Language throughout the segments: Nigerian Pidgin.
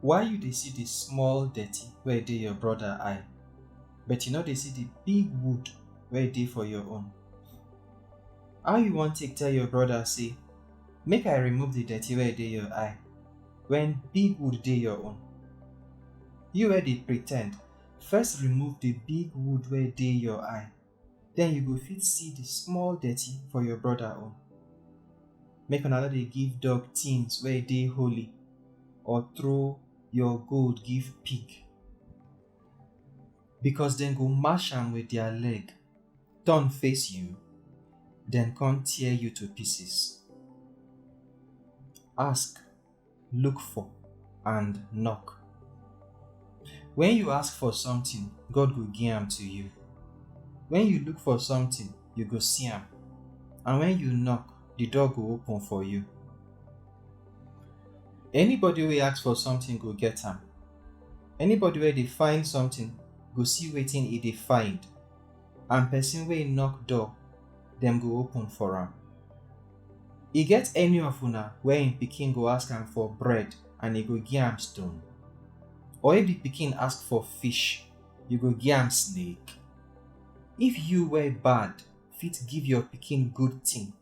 Why you dey see the small dirty wey dey your brother eye, but you no dey see the big wood wey dey for your own? How you wan take tell your brother say, Make I remove the dirty wey dey your eye, when big wood dey your own? You wey dey pretend, first remove the big wood wey dey your eye, then you go fit see the small dirty for your brother own. Make una no dey give dog things wey dey holy or throw your gold give pig. Because dem go mash am with their leg, turn face you, then come tear you to pieces. Ask look for, and knock. When you ask for something, God go give am to you. When you look for something, you go see am. And when you knock, the door go open for you. Anybody wey ask for something go get am. Anybody wey dey find something go see wetin e dey find, and person wey knock door, dem go open for am. E get any of una wey im pikin go ask am for bread and e go gi am stone? Or if di pikin ask for fish, you go gi am snake? If you wey bad fit give your pikin good tin,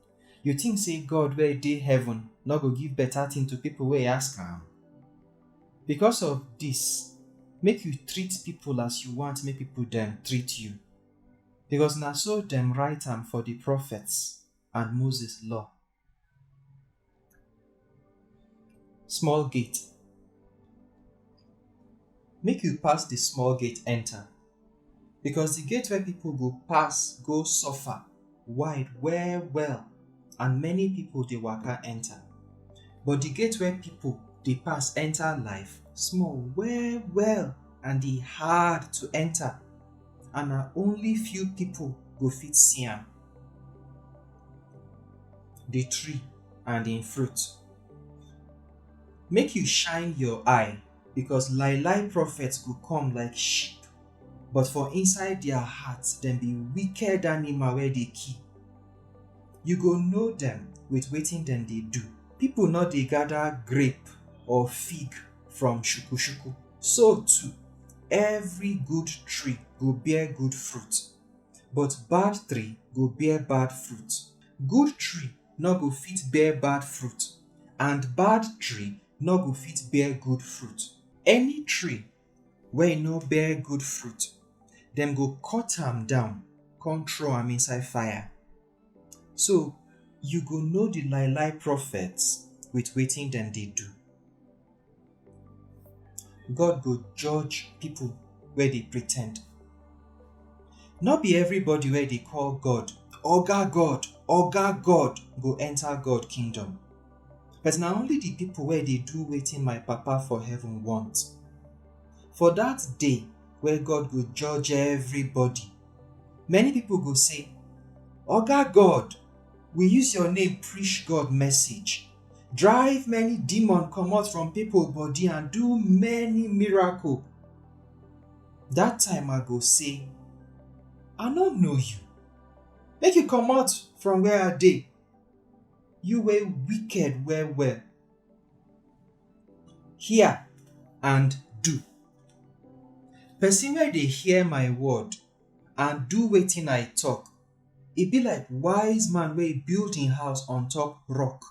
You think say God wey dey heaven no go give better thing to people wey ask am? Because of this, make you treat people as you want make people dem treat you. Because na so dem write am for the prophets and Moses law. Small gate. Make you pass the small gate enter because the gate where people go pass go suffer wide well well and many people dey waka enter. But the gate where people dey pass enter life small well well and e hard to enter and na only few people go fit see am. the tree and im fruit. Make you shine your eye because lie lie prophets go come like sheep but for inside their hearts dem be wicked animal wey dey kill. You go know dem with wetin dem dey do. People no dey gather grape or fig from shukushuku. So too, every good tree go bear good fruit but bad tree go bear bad fruit. Good tree no go fit bear bad fruit and bad tree no go fit bear good fruit. Any tree wey no bear good fruit, dem go cut am down come throw am inside fire. So, you go know the lie lie prophets with waiting them they do. God go judge people where they pretend. Not be everybody where they call God, Oga God, Oga God go enter God kingdom. But now only the people where they do waiting my papa for heaven want. For that day where God go judge everybody Many people go say, Oga God, we use your name preach God message, drive many demon comot from people body and do many miracle. That time I go say, I no know you. Make you comot from where I dey. You wey wicked well well. hear and do. Person wey dey hear my word and do wetin I talk, e be like wise man wey build im house on top rock.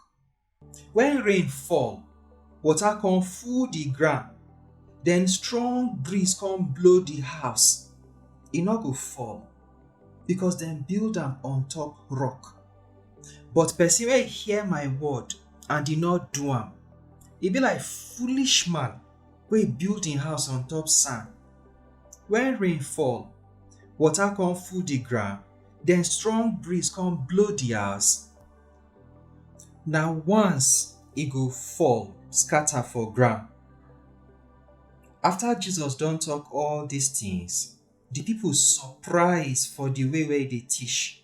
When rain fall, water come full the ground, then strong breeze come blow the house, e no go fall because dem build am on top rock. But person wey hear my word and e no do am, e be like foolish man wey build im house on top sand. When rain fall, water come full the ground, then strong breeze come blow the house, na once e go fall scatter for ground. After Jesus don talk all these things, the people surprise for the way wey e dey teach.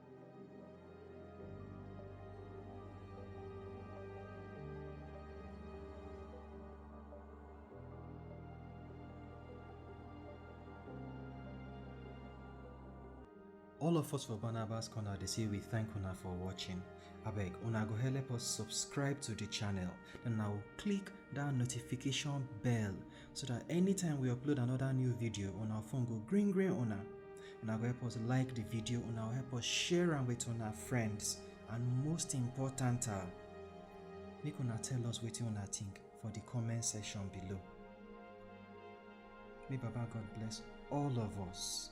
all of us for barnabas corner dey say we thank una for watching abeg una go help us subscribe to the channel and now click that notification bell so that anytime we upload another new video on our phone go green green una una go help us like the video una help us share am with our friends and most important ah make una tell us what una think for the comment section below may baba god bless all of us.